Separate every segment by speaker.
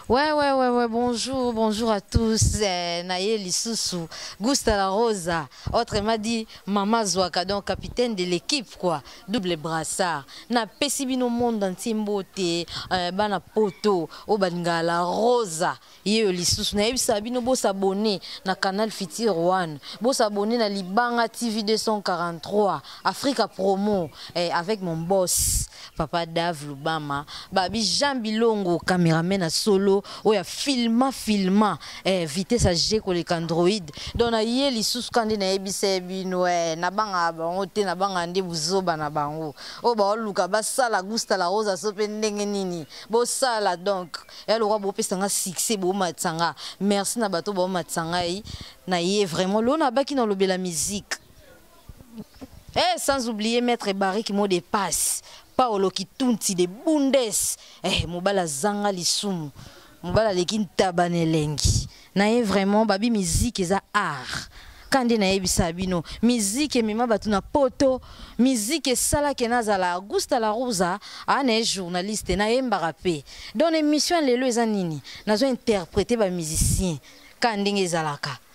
Speaker 1: Ouais, ouais, ouais, ouais, bonjour, bonjour à tous. Eh, Naye Lissousou, Gusta La Rosa, autre m'a dit Mama Zouaka, donc capitaine de l'équipe, quoi, double brassard. Na Pesibino Monde en Timbote, eh, Bana Poto, Obanga La Rosa, Yeo Lissousou, Naye Sabino, beau s'abonner na canal Fiti One, beau s'abonner na Libanga TV 243, Africa Promo, eh, avec mon boss. papa dave lubama babi jean bilongo cameraman ya solo oyo ya filma filma eh, vitesse age koleka android donc naye lisusu ka nde nayebisa ye bino eh, nabangaka bango te nabangaka nde buzoba na bango oyo baoluka basala gusta la rosa so mpe ndenge nini bosala donc ya eh, lokola bopesa nga succès boomatisa nga merci na bato baomatisa ngai naye vraiment lona abaki na olobela musique Eh, sans oublier maître Barrique mot de passe. Paolo Kitunti de Bundes. Eh, mobala zanga lisumu. Mobala leki ntaba nelengi. Na ye vraiment babi musique eza art. Kande na yebisa bino musique emema bato na poto musique esalaki nazala augusta la rosa ana ye journaliste nayembaka mpe donc na émission ya lelo eza nini nazo interprete bamusicien kaka ndenge ezalaka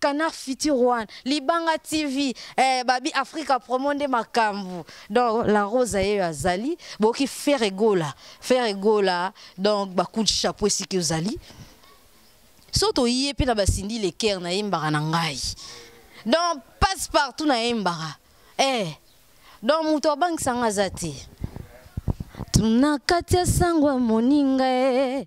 Speaker 1: Canard Futur One, Libanga TV, eh, Babi Africa Promo nde makambu. Donc la Rosa ye azali, boki faire gola, faire gola. Donc ba coup de chapeau ici que ozali. Soto yie pe na basindi le cœur na yembara na ngai. Donc passe partout na yembara. Eh. Donc muto abangisa nga zati. Tuna katia sangwa moninga eh.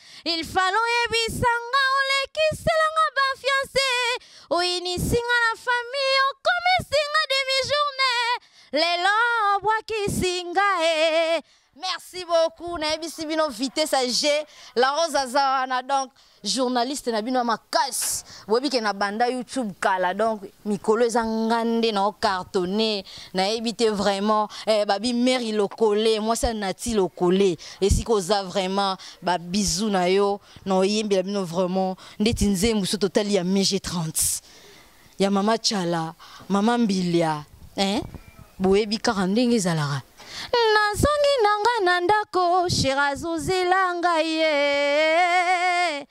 Speaker 1: Il fallait oyebisa nga olekisela nga ba fiancé oyinisi nga na famille okomisi nga demi journée lelo obwakisi nga e merci beaucoup nayebisi bino vitesse ya g la rose aza wana donc journaliste na bino ya makasi boyebi ke na banda youtube kala donc mikolo eza nga nde na ocartonne nayebi te vraiment eh, babi mary lokole mwasi ya nati lokole esika oza vraiment ba bisous na yo na oyembela bino vraiment ndeti nzembo so totali ya mg 30 ya mama chala mama mbilia eh? boyebi kaka ndenge ezalaka nazongi na nga na ndako sherazozela ngai ye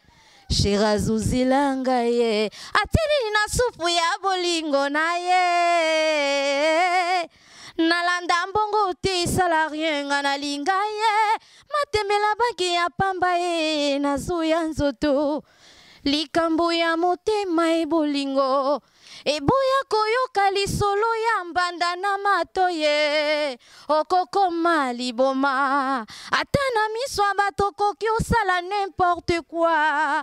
Speaker 1: sherazozela ngai ye atili na supu ya bolingo na ye nalanda mbongo te esala rien nga nalinga ye matembela banki ya pamba ye nazoya nzoto likambo ya motema ebolingo eboya koyoka lisolo ya mbanda na mato ye okokoma liboma ata na miso ya bato okoki osala n'importe quoi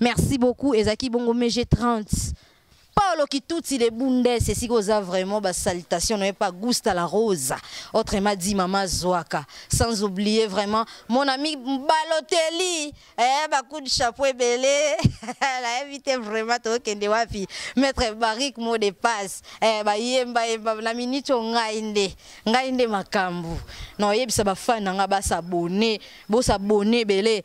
Speaker 1: Merci beaucoup ezaki bongo mege 30. Paolo Kituti de Bundes c'est oza vraiment ba salutation n'avait pas Gusta la Rosa autrement dit maman Zoaka sans oublier vraiment mon ami Balotelli eh ba coup de chapeau belé la invité vraiment to kende wapi maître Barik mot de passe eh ba yemba yemba na minute ngai nde ngai nde makambu non yebisa ba fan nga ba s'abonner bo s'abonner belé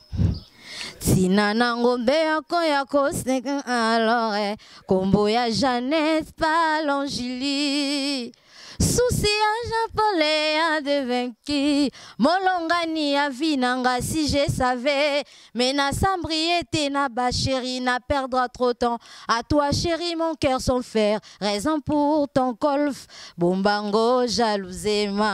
Speaker 1: Tina na ngombe yako ya koseka alors eh, kombo ya Jeannette Palangili susi ya japole ya devenki molongani ya vi na nga si je savais mais na sambrie te na ba chéri na perdre trop temps à toi chéri mon cœur son fer raison pour ton golf bombango jalousema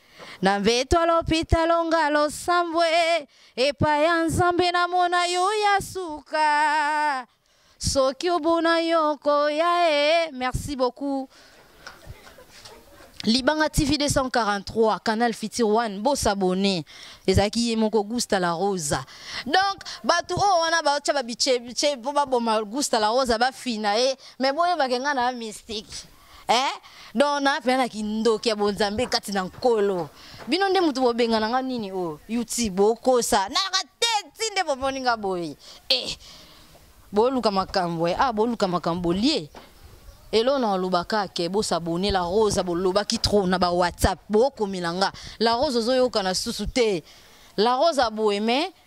Speaker 1: na mbeto ya lopitalo nga losambwe epai ya nzambe namona yo ya suka soki obuna yo koya e merci beaucoup libanga tv 243 canal fitir 1 bosabone ezalaki ye moko gusta la rosa donc bato oyo wana baotya babichebiche mpo baboma gusta la rosa bafina ye me boyebake ngai na mystique eh donc na pena na kindoki ya bonzambe kati na nkolo bino nde moto bobengana nga nini oyo oh, yuti bokosa nayaka te ti nde bomoni nga boye eh boluka makambo eh ah boluka makambo bolie elo na olobaka ke bosabone la rose bolobaki trop na ba whatsapp bokomela nga la rose ozoyokana susu te la rose aboye mais